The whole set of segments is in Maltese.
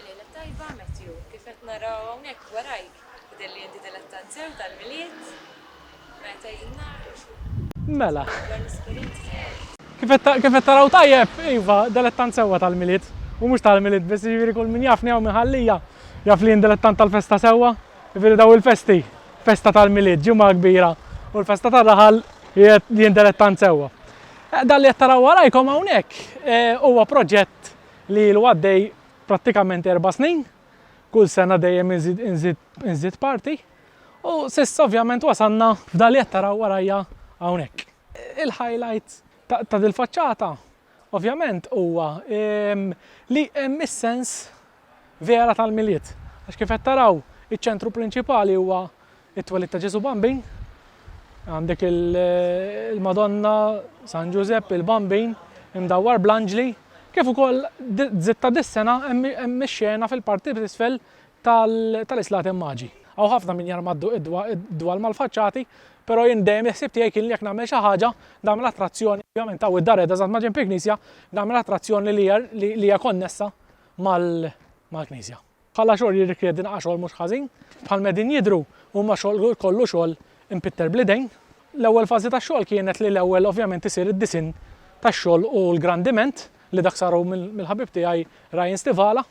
Lejla tajba, Matthew. Kif qed nara hawnhekk warajk, jidher li inti dilettant sew tal-Milied. Meta hi n-nhar? Mela. Insomma, dwar l-esperjenzi tiegħek. Kif qed, kif qed taraw tajjeb, iva, dilettant sewwa tal-Milied. U mhux tal-Milied biss, jiġifieri kull min jafni hawn minn Ħal Lija, jaf li jien dilettant tal-festa sewwa. Jiġifieri dawn il-festi, festa tal-Milied, Ġimgħa Kbira u l-festa tar-raħal, jien dilettant sewwa. Dan li qed taraw warajkom hawnhekk huwa proġett li ilu għaddej prattikament erba' snin, kull sena dejjem inżid inżid inżid parti, u s'issa ovvjament wasalna f'dan li qed taraw warajja hawnhekk. Il-highlight ta' dil-faċċata ovvjament huwa li hemm is-sens vera tal-Milied, għax kif qed taraw iċ-ċentru prinċipali huwa It-twelid ta' Ġesù Bambin, għandek il-Madonna, San Ġużepp, il-Bambin imdawwar bl-anġli, kif ukoll d-Żid ta' dis-sena hemm ix-xena fil-parti t'isfel tal-islati Immaġi. Hawn ħafna min jarma d-dwal mal-faċċati, però jien dejjem il-ħsieb tiegħi kien li jekk nagħmel xi ħaġa, nagħmel attrazzjoni, ovvjament hawn id-Dareda eżatt maġenb il-knisja, nagħmel attrazzjoni li hija konnessa mal-knisja. Bħala xogħol jirrikjedi naqra xogħol mhux ħażin. Bħal ma qegħdin jidhru huma xogħol kollu xogħol impitter bl-idejn. L-ewwel fażi tax-xogħol kienet li l-ewwel ovvjament isir id-disinn tax-xogħol u l-grandiment li dak saru mill-ħabib tiegħi Ryan Stivala.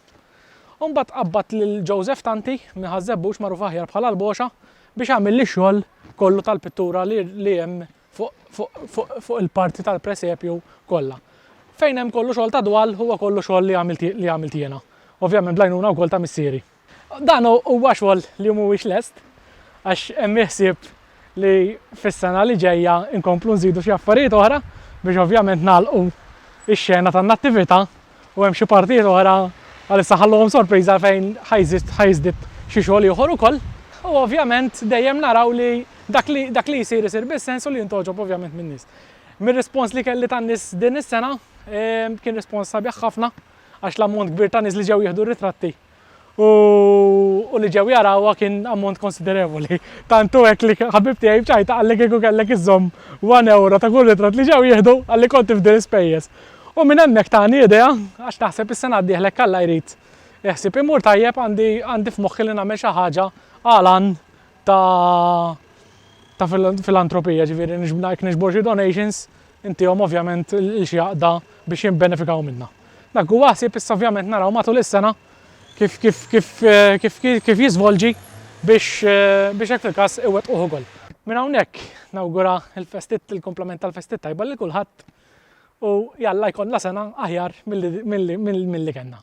U mbagħad tqabbad lil Joseph Tanti minn Ħaż-Żebbux magħruf aħjar bħala l-Boxa biex għamilli x-xogħol kollu tal-pittura li hemm fuq il-parti tal-presepju kollha. Fejn hemm kollu xogħol ta' dwal huwa kollu xogħol li għamilt li għamilt jiena, ovvjament bl-għajnuna wkoll ta' missieri. Dan huwa xogħol li mhuwiex lest għax hemm il-ħsieb li fis-sena li ġejja nkomplu nżidu xi affarijiet oħra biex ovvjament nagħlqu x-xena tan-Nattività u hemm xi partijiet oħra għalissa ħalluhom sorpriża fejn ħa jiżdied xi xogħol ieħor ukoll. U ovvjament dejjem naraw li dak li dak li jsir isir bis-sens u li jintgħoġob ovvjament min-nies. Mir-rispons li kelli tan-nies din is-sena ehm, kien rispons sabiħ ħafna għax l-ammont kbir ta' nies li ġew jieħdu ritratti u u li ġew jarawha kien ammont konsiderevoli. Tant hu hekk li ħabib tiegħi b'ċajta qalli kieku kellek iżżomm one euro ta' kull ritratt li ġew jieħdu għalli kont tifdi l-ispejjeż. U minn hemmhekk tani idea għax naħseb is-sena d-dieħla jekk Alla jrid il-ħsieb imur tajjeb għandi għandi f'moħħi li nagħmel xi ħaġa għal għan ta' ta' filantropija, ġifieri niġb ngħid niġbor xi donations Intihom ovvjament lil xi għaqda biex jibbenefikaw minnha. Dak huwa ħsieb issa ovvjament naraw matul is-sena kif kif kif kif kif jiżvolġi biex biex hekk il-każ iwettquh ukoll. Minn hawnhekk nawgura l-festit il-kumplament tal-festi t-tajba lil kulħadd u jalla jkollna sena aħjar milli milli milli kellna.